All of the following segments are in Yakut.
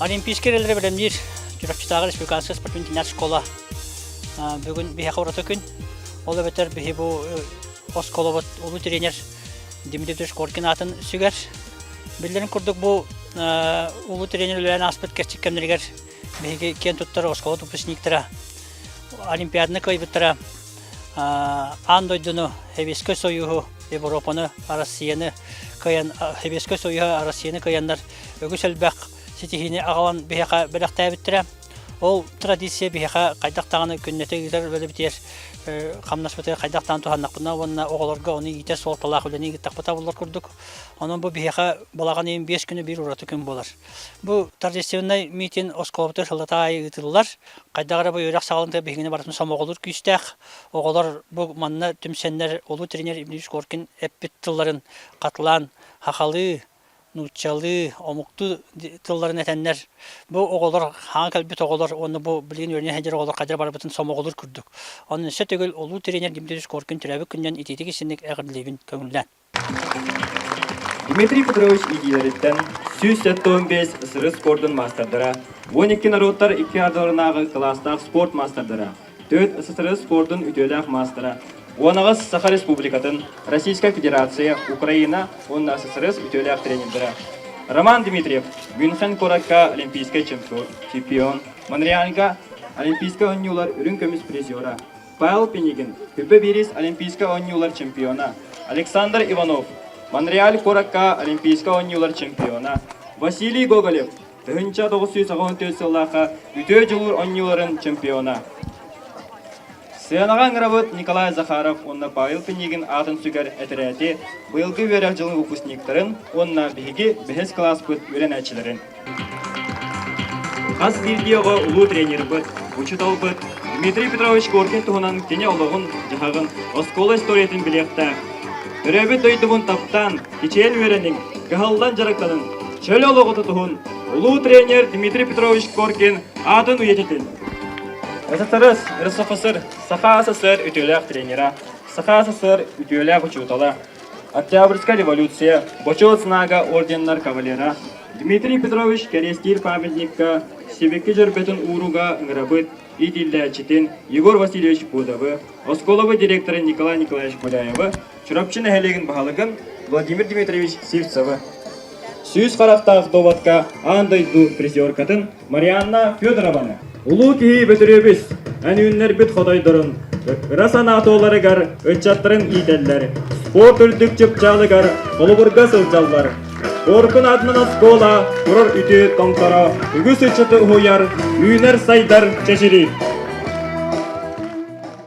Олимпийский эрэллэри бэлэмниир Чурапчытааҕы республиканская спортивная школа бүгүн биһиэхэ ураты күн. Ол эбэтэр биһи бу осколобут улуу тренер Дмитрий Трешкоркин аатын сүгэр. Биллэрин курдук бу улуу тренер үлэлээн ааспыт кэрчик кэмнэригэр Биһиги киэн туттара оскуола выпускниктара, Олимпиаданы кыайбыттара, аан дойдуну, Сэбиэскэй Союһу, Европаны, Арассыыйаны кыайан, Сэбиэскэй Союһу, Арассыыйаны кыайаннар үгүс элбэх ситиһиини аҕалан биһиэхэ бэлэхтээбиттэрэ. Ол традиция биһиэхэ хайдах даҕаны күннэтэ ыытар үлэбитигэр хамнаспытыгар хайдах даҕаны туһаннахпына уонна оҕолорго ону иитэр суолталаах үлэни ыыттахпыта буллар курдук. Онон бу биһиэхэ балаҕан ыйын биэс күнэ биир ураты күн буолар. Бу торжественнай митинг оскуолабыта сыллата аайы ыытыллар. Хайдах эрэ бу үөрэх саалын биһигини барытын сомоҕолуур күүстээх. Оҕолор бу манна түмсэннэр улуу тренер Ильич Коркин эппит тылларын хатылаан хахалыы, нууччалыы, омуктуу тылларын этэннэр, бу оҕолор, хаан кэлбит оҕолор уонна бу билигин үөрэнэ сылдьар оҕолор хайдах барбытын сомоҕолуур курдук. Онон өссө төгүл улуу тренер Дмитрий Скоркин төрөөбүт күнүнэн итиитик истинник эҕэрдэлиибин көҥүллээн. Дмитрий Петрович иитиилэриттэн сүүс сэттэ уон биэс сыры спордун маастардара уон икки норуоттар икки ардыларынааҕы кылаастаах спорт маастардара, төрүт СССР спордун үтүөлээх маастара, уонаҕас Саха Республикатын, Российская Федерация, Украина уонна СССР үтүөлээх тренердара. Роман Дмитриев Мюнхен куоракка олимпийскай чемпион, Монреальга олимпийскай оонньуулар үрүҥ көмүс призера, Павел Пинигин, Күрбэ Биирис Олимпийскай оонньуулар чемпиона, Александр Иванов, Монреаль куоракка Олимпийскай оонньуулар чемпиона, Василий Гоголев, тыһыынча тоҕус сүүс аҕыһын сыллаахха үтүө дьулуур оонньууларын чемпиона. Сыанаҕа ыҥырабыт Николай Захаров уонна Павел Пинигин аатын сүгэр этэрээти быйылгы үөрэх дьылын выпускниктарын уонна биһиги бэһис кылааспыт үөрэнээччилэрин. Хас биирдиэҕэ улуу тренербыт, учууталбыт Дмитрий Петрович Горькай туһунан кини олоҕун-дьаһаҕын, оскуола историятын билиэхтээх. Төрөөбүт дойдубун таптаан, кичэйэн үөрэниҥ, кыһаллан дьарыктаныҥ, чөл олоҕу тутуһун улуу тренер Дмитрий Петрович Горькин аатын үйэтитин. ССРС РСФСР Саха СССР үтүөлээх тренера, Саха СССР үтүөлээх учуутала, Октябрьская революция, Бочуот знага орденнар кавалера, Дмитрий Петрович кэриэстиир памятникка Сибикки дьөрбөтүн ууруга ыҥырабыт иитиллээччитин Егор Васильевич Будовы, оскуолабыт директора Николай Николаевич Гуляевы, Чурапчы нэһилиэгин баһылыгын Владимир Дмитриевич Сивцевы. Сүүс харахтаах доводка аан дойду призеркатын Марианна Федорованы, улуу киһи Бөтүрүөбүс, эн үүннэрбит хотойдорун, ыра санаа туоларыгар ыччаттарын иитэллэр, спорт үрдүк чыпчаалыгар холобурга сылдьаллар. Горкун аатынан оскуола, турар үтүө тоҥторо, үгүс ыччаты уһуйар, үүнэр сайдар чэчири.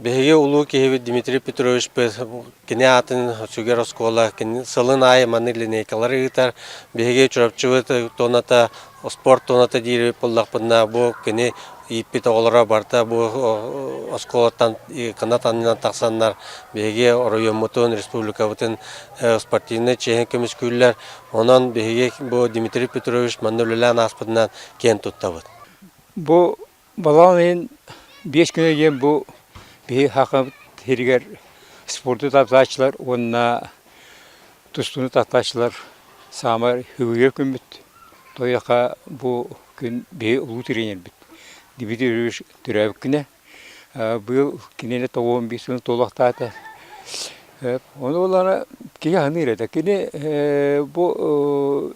Биһиги улуу киһибит Дмитрий Петрович кини аатын сүгэр оскуола сылын аайы маны линейкалары ыытар. Биһиги Чурапчыбыт туоната Спорт туната диир буллахпытына бу кини ииппит оҕолоро барыта бу оскуолаттан кына таннынан тахсаннар биһиги оройуоммутун республикабытын спортивнай чиэһин көмүскүүллэр онон биһиги бу Дмитрий Петрович манна үлэлээн ааспытынан киэн туттабыт. Бу Балаҕан ыйын биэс күнэ диэн бу биһи Саха сиригэр спорду таптааччылар уонна тустууну таптааччылар саамай үбүгэр күммүт. Туойаха бу күн биһи улуу тренербит Дмитрий Ильич төрөөбүккүнэ быйыл кинини тоҕуон биир сылын туолуохтаата. Ону ылана киһи аһыныыр этэ. Кини бу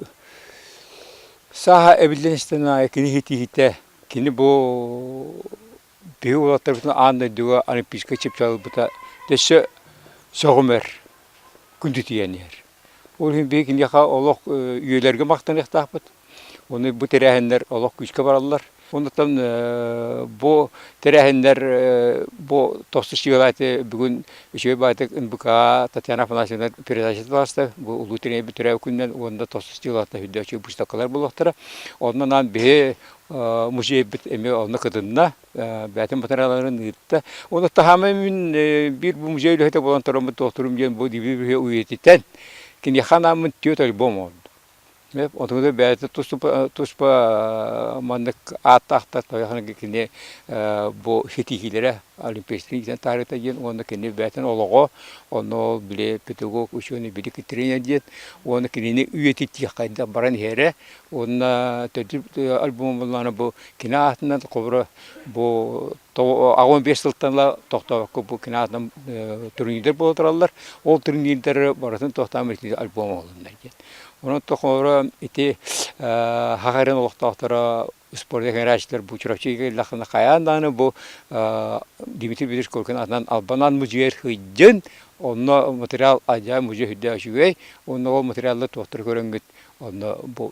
сааһа эбиллэн истэн аайы кини ситиһитэ Кини бу биһи уолаттарбытын аан дойдуга олимпийскай чыпчалбыта өссө сөҕүмэр күндүтүйэн иһэр. Ол иһин биһи киниэхэ олох үйэлэргэ махтаныахтаахпыт. Ону бу тэрээһиннэр олох күүскэ бараллар. Оннуктан бу тэрээһиннэр бу тосту сыгылааты бүгүн Үчүгэй баайтык НБК Татьяна Афанасьевна передачаталаста. Бу улуу тириэйбит төрөөбүт күнүнэн уонна тосту стилатына үрдөөччү быыстапкалар буолуохтара. Онно анаан биһи музейбит эмиэ онно кытынна, бээтин матырыйааларын ыытта. Уонна таһаамай мин биир бу музей үлэһитэ буолан тороммут доктурум диэн бу дибириһи үйэтитэн, киниэхэ анааммын түөрт альбом оонньоотум. Отугуна бэйэтэ туспа маннык ааттаахтар тоҕо кини бу ситиһиилэрэ олимпийскай диэн таарыта диэн уонна кини бэйэтин олоҕо ону били педагог ученый били тренер диэн уонна кинини үйэтитиэххэ баран иһэрэ уонна альбомунан бу кини аатынан хоборо бу аҕам биэс сылтан ыла тохтообокко бу кинаатынан турнирдар буола тураллар. Ол турнирдары барытын тохтоон итии альбом оҕолуннар диэн. Онон тохоро ити Хахарин олохтоохторо спорт экрааччылар бу Чурапчыга кэллэххинэ хайаан даҕаны бу Дмитрий Петрович Коркин аатынан Албанан музейар хыйдын, онно материал адьаан музей үрдээ үчүгэй, онно ол материаллар туохтары көрөҥҥүт, онно бу